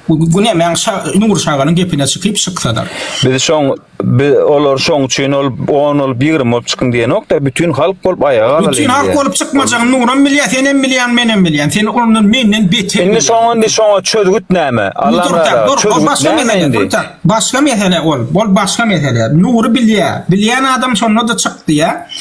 Günemäň Nur şaganyň gepine çykyp şyksadyr. Biz şoň biz olar şoň üçin ol on bolup ýigrimi bolup çykyň diýenokdyr bütin halk bolup aýaga galalyň. Bütin halk bolup çykmajagyny Nuram bilýär senem bilýän menem bilýän seni ondan menden beter bilýän. Indi şoň indi şoňa çözgüt näme Allam razy bolsun çözgüt başga mesele başga mesele ol ol başga mesele Nury bilýär bilýän adam şonda da çykdy ýa.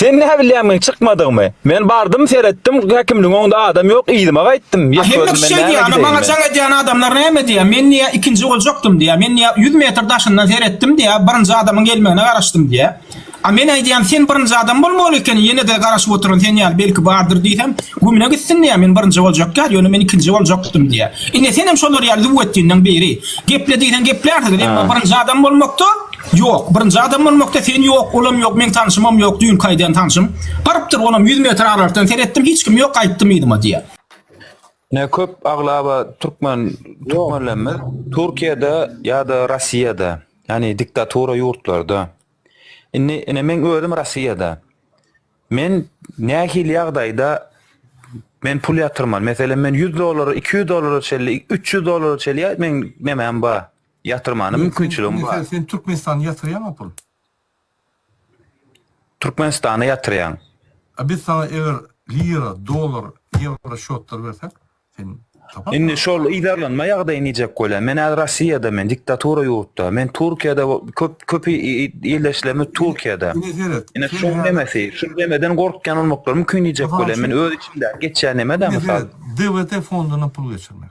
Sen näbilýämiň çykmadygymy? Men bardym seretdim häkimligiň öňde adam ýok yzyma gaýtdym. Ýek Hemme gözüm kişi men näme öýdýär, maňa jaň edýän adamlar näme diýýär, men diýýär ikinji boljakdym diýýär, men diýýär ýüz metr daşyndan seretdim diýýär, birinji adamyň gelmegine garaşdym diýýär. A men aýdýan sen birinji adam bolmaly ekeniň ýenede garaşyp oturan sen ýaly belki bardyr diýsem gümüne gitsin diýýär men birinji boljak ýaly ýöne men ikinji boljakdym diýýär. Ine senem şolar ýaly züwwetdinleň biri. Geple diýseň geplärsiňiz emma birinji adam bolmakda Ýok, birinji adam bolmakda sen ýok, olam ýok, meň tanşymam ýok, düýnki aýdan tanşym. Barypdyr, olam ýüz metr aralydan seretdim, hiç kim ýok, gaýtdym yzyma diýýär. Ine köp aglaba türkmen türkmenlerimiz Türkiýede ýa-da Rossiýada, ýagny diktatura ýurtlarda. Indi ine men özüm Rossiýada. Men nähili ýagdaýda men pul ýatyrmaly? Meselem men 100 dollara, 200 dollara çenli, 300 dollara çenli ýa meň nemäm bar? Ýatyrmana Ine sen, mümkinçiligim ine sen, bar. sen Türkmenistana ýatyrýaňa pul? Türkmenistana ýatyrýan. A biz saňa eger lira, dollar, ýewro şotlar bersek, sen taparsyň Indi aga. şol yzarlanma ýagdaýy nijek bolýa? Men häzir Rossiýada men, diktatura ýurtda. Men Türkiýede bo- köp köp i- i- ildeşlerimiz Ine, Türkiýede. ine seret, Ine sen şuň häzir, nemesi, şu nemeden gorkýan bolmaklary mümkin nijek Mysal bolýa? Men üçin, öz içimdäki geçýän neme-dä ine mysal. seret, DWT fonduna pul geçirmek.